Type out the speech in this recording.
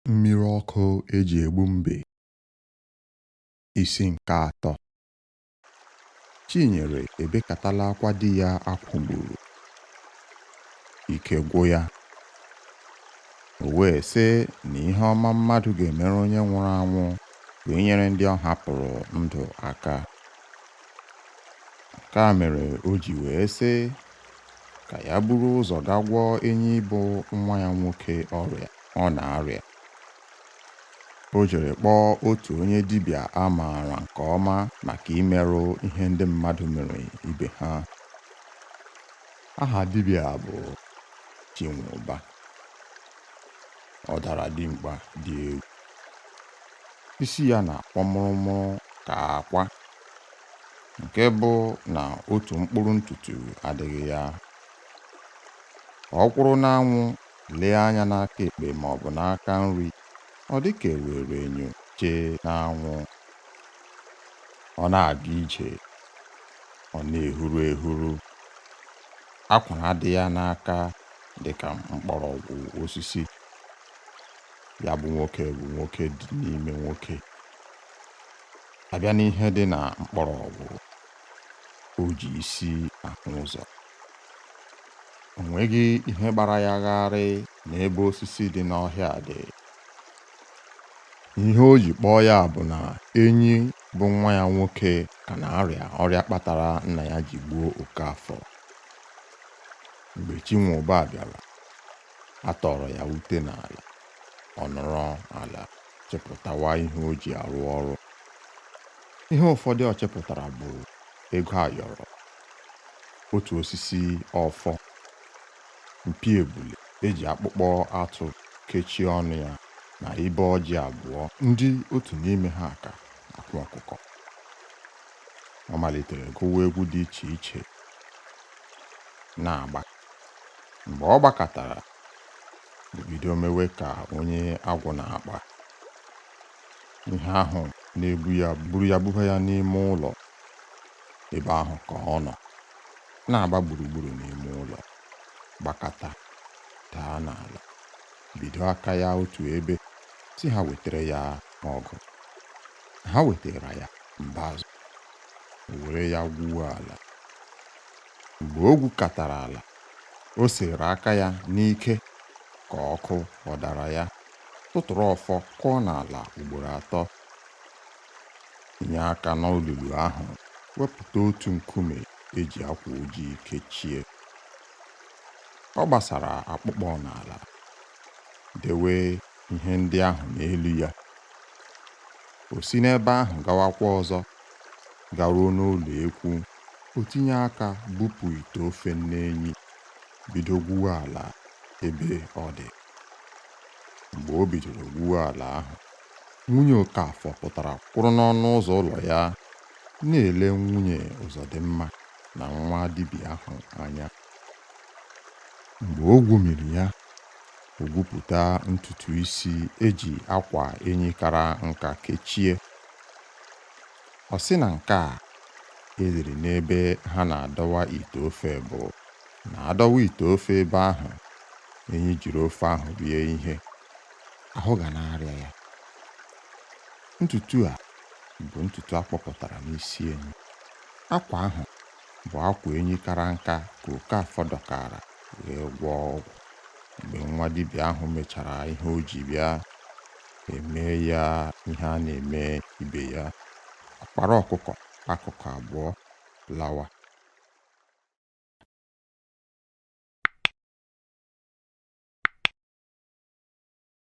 Mmiri ọkụ eji egbu mbe isi nke atọ Chinyere ebekatala akwa di ya a kwụgburu ike gwụ ya o wee sị na ihe ọma mmadụ ga-emere onye nwụrụ anwụ bụ inyere ndị ọ hapụrụ ndụ aka Nke a mere o ji wee sị ka ya buru ụzọ gaa gwọọ Enyi bụ nwa ya nwoke ọrịa ọ na-arịa. O jere kpọọ otu onye dibịa a maara nke ọma maka imerụ ihe ndị mmadụ mere ibe ha. Aha dibịa a bụ Chinwụba. Ọ dara dimkpa dị egwu. Isi ya na-akwọ mụrụmụrụ ka akwa nke bụ na otu mkpụrụ ntutu adịghị ya ọ kwụrụ n'anwụ lee anya n'aka ekpe ma ọ bụ n'aka nri ọ dị ka e were enyo chee n'anwụ ọ na-aga ije ọ na-ehuru ehuru akwara dị ya n'aka dị ka mkpọrọgwụ osisi ya bụ nwoke bụ nwoke dị n'ime nwoke a bịa n'ihe dị na mkpọrọgwụ o ji isi ahụ ụzọ o nweghị ihe gbara ya gharị n'ebe osisi dị n'ọhịa dị ihe o ji kpọọ ya bụ na enyi bụ nwa ya nwoke ka na-arịa ọrịa kpatara nna ya ji gbuo Okeafọ mgbe chinwụba bịara a tọọrọ ya ute n'ala ọ nọrọ ala chịpụtawa ihe o ji arụ ọrụ. Ihe ụfọdụ ọ chịpụtara bụ ego ayọrọ, otu osisi ọfọ, mpi ebule eji akpụkpọ atụ kechie ọnụ ya na ibe ọjị abụọ ndị otu n'ime ha ha ka akwa ọkụkọ. Ọ malitere gụwa egwu dị iche iche na-agba Mgbe ọ gbakatara, o bido mewe ka onye agwụ na-akpa. Ihe ahụ na-ebu ya buru ya buba ya n'ime ụlọ. Ebe ahụ ka ọ nọ, na-agba gburugburu n'ime ụlọ, gbakata, daa n'ala, bido aka ya otu ebe, sị ha wetara ya ọgụ. Ha wetara ya mbazụ, o were ya gwuo ala. Mgbe o gwukatara ala, o sere aka ya n'ike ka ọkụ ọ dara ya, tụtụrụ ọfọ kụọ n'ala ugboro atọ. Tinye aka n'olulu ahụ wepụta otu nkume e ji akwa ojii kechie. Ọ gbasara akpụkpọ n'ala, dewe ihe ndị ahụ n'elu ya. O si n'ebe ahụ gawakwa ọzọ garuo n'ụlọ ekwu O tinye aka bupụ ite ofe nne Enyi, bido gwuwe ala ebe ọ dị. Mgbe o bidoro gwuwe ala ahụ, nwunye Okafọ pụtara kwụrụ n'ọnụ ụzọ ụlọ ya na-ele nwunye Ụzọdịmma na nwa dibịa ahụ anya. Mgbe o gwumiri ya, o gwupụta ntutu isi e ji akwa Enyi kara nka kechie. Ọ sị na nke a e liri n'ebe ha na-adọwa ite ofe bụ na a dọwa ite ofe ebe ahụ Enyi jiri ofe ahụ rie ihe ahụ ga na-arịa ya ntutu a bụ ntutu a kpọpụtara n'isi Enyi akwa ahụ bụ akwa Enyi kara nka ka Okafọ dọkara wee gwọọ ọgwụ mgbe nwa dibịa ahụ mechara ihe o ji bịa e mee ya ihe a na-eme ibe ya ọ kpara ọkụkọ akụkụ abụọ lawa